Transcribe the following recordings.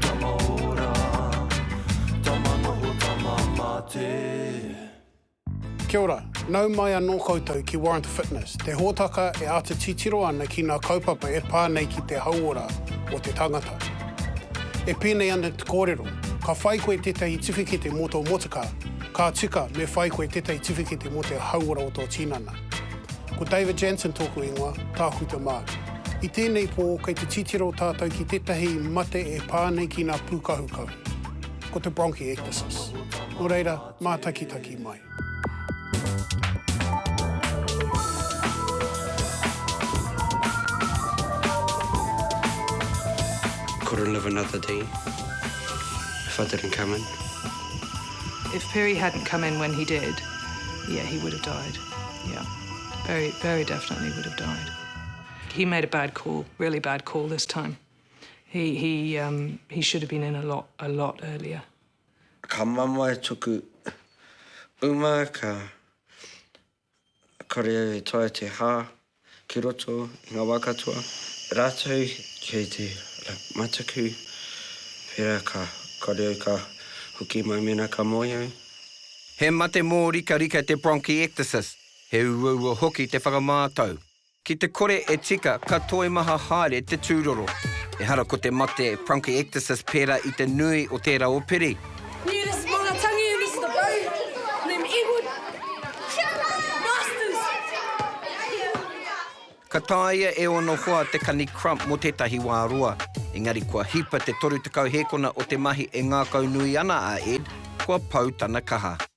Tama ora, tama noho, tama mate. Kia ora, nau mai anō koutou ki Warrant Fitness, te hōtaka e āta titiro ana ki ngā kaupapa e pā nei ki te hauora o te tangata. E pēnei ana te kōrero, ka whai koe tētahi tiwhikete mō tō motukā, ka tika me whai koe tētahi tiwhikete mō te hauora o tō tinana. Ko David Jansen tōku ingoa, Tākuta Mark. I tēnei pō, kei te titiro tātou ki tētahi mate e pā nei ki ngā pūkahukahu. Ko te bronchiectasis. Nō reira, mātakitaki mai. Couldn't live another day if I didn't come in. If Perry hadn't come in when he did, yeah, he would have died. Yeah, very, very definitely would have died. He made a bad call, really bad call this time. He, he, um, he should have been in a lot, a lot earlier. Ka mamae tuku uma ka kore au e toa te hā ki roto i ngā wā katoa. Rātou kei te mataku, pērā ka kore au ka hoki mai mēnā ka moe au. He mate mōrikarika te bronchiectasis. He uaua hoki te whakamātau. Ki te kore e tika, ka toimaha haere te tūroro. Ehara ko te mate, bronchiectasis, pērā i te nui o tērā o Piri. Ka tāia e ōna hoa te kani crump mō tētahi wā roa. Engari kua hipa te 30 hēkona o te mahi e ngākaunui ana a Ed, kua pau tana kaha.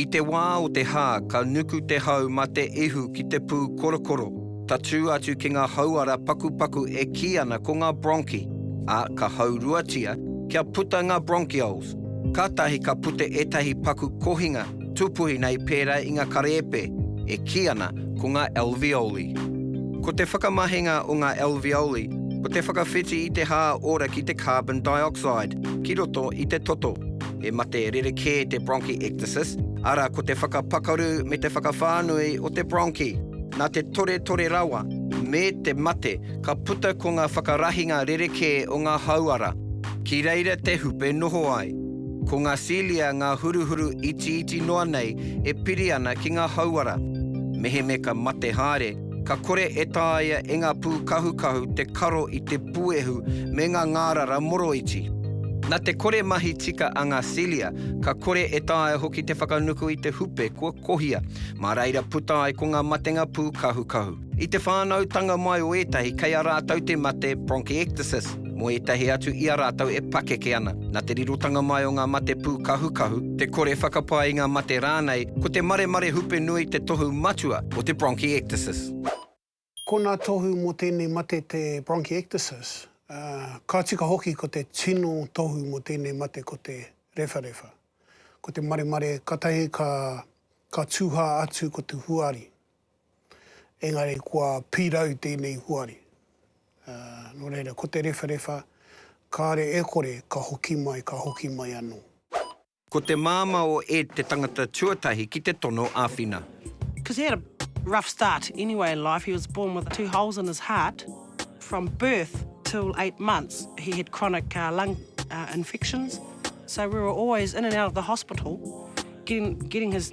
I te wā o te hā ka nuku te hau mā te ihu ki te pū korokoro, tatū atu ki ngā hauara pakupaku e kī ana ko ngā bronchi, ā, ka hauruatia kia puta ngā bronchioles. Kātahi ka puta ētahi paku kohinga tūpuhi nei pērā i ngā karēpe e kī ana ko ngā alveoli. Ko te whakamahinga o ngā alveoli ko te whakawhiti i te hā ora ki te carbon dioxide ki roto i te toto. He mate rerekē te bronchiectasis, arā ko te whakapakaru me te whakawhānui o te bronchi. Nā te toretore rawa me te mate ka puta ko ngā whakarahinga rerekē o ngā hauara. Ki reira te hupe e noho ai. Ko ngā cilia ngā huruhuru itiiti noa nei e piri ana ki ngā hauara. Mehemea ka mate haere, Ka kore e taea e ngā pūkahukahu te karo i te puehu me ngā ngārara moroiti. Nā te kore mahi tika a ngā cilia, ka kore e taea hoki te whakanuku i te hupe kua kohia, mā reira puta ai ko ngā matenga pūkahukahu. I te whānautanga mai o ētahi, kei a rātou te mate bronchiectasis. Mō ētahi atu i a rātou e pakeke ana, nā te rirotanga mai o ngā mate pūkahukahu, te kore whakapae i ngā mate rānei, ko te maremare hupe nui te tohu matua o te bronchiectasis. Ko ngā tohu mō tēnei mate te bronchiectasis, ā, ka tika hoki ko te tino tohu mō tēnei mate ko te rewharewha. Ko te maremare katahi ka, ka tūhā atu ko te huari, engari kua pirau tēnei huari. Nō reira, ko te rewharewha, kāre e kore ka hoki mai, ka hoki mai anō. Ko te māmā o Ed te tangata tuatahi ki te tono āwhina. Because he had a rough start anyway in life, he was born with two holes in his heart, from birth till eight months he had chronic lung infections, so we were always in and out of the hospital getting his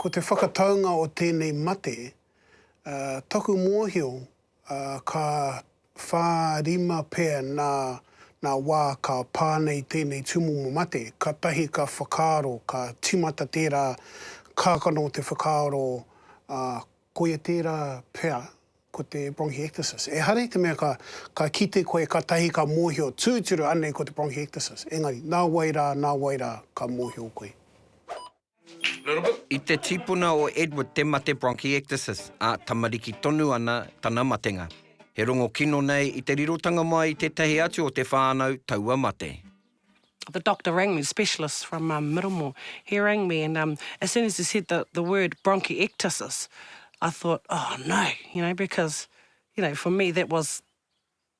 Ko te whakataunga o tēnei mate, taku mōhio ka whā, rima pea nā nā wā ka pā nei tēnei tūmomo mate, kātahi ka whakaaro, ka tīmata tērā kākano o te whakaaro, ā, koia tērā pea ko te bronchiectasis. Ehara i te mea ka, ka kite koe kātahi ka mōhio tūturu anei ko te bronchiectasis, engari, nā wai rā, nā wai rā ka mōhio koe. I te tipuna o Edward te mate bronchiectasis, ā, tamariki tonu ana tana matenga. He rongo kino nei i te rirotanga mai i tētahi atu o te whānau taua mate. The doctor rang me, the specialist from um, Middlemore, he rang me and um, as soon as he said the, the word bronchiectasis, I thought, oh no, you know, because, you know, for me that was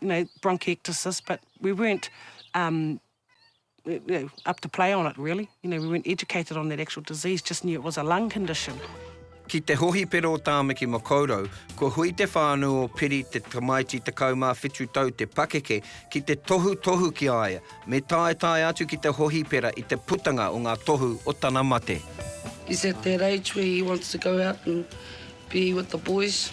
you know, bronchiectasis, but we weren't um, you know, up to play on it really. You know, we weren't educated on that actual disease, just knew it was a lung condition. Ki te hohipera o Tāmaki Makaurau, kua hui te whānau o Piri te tamaiti 17 tau te pakeke ki te tohutohu ki a ia, me taetae atu ki te hohipera i te putanga o ngā tohu o tana mate. He's at that age where he wants to go out and be with the boys.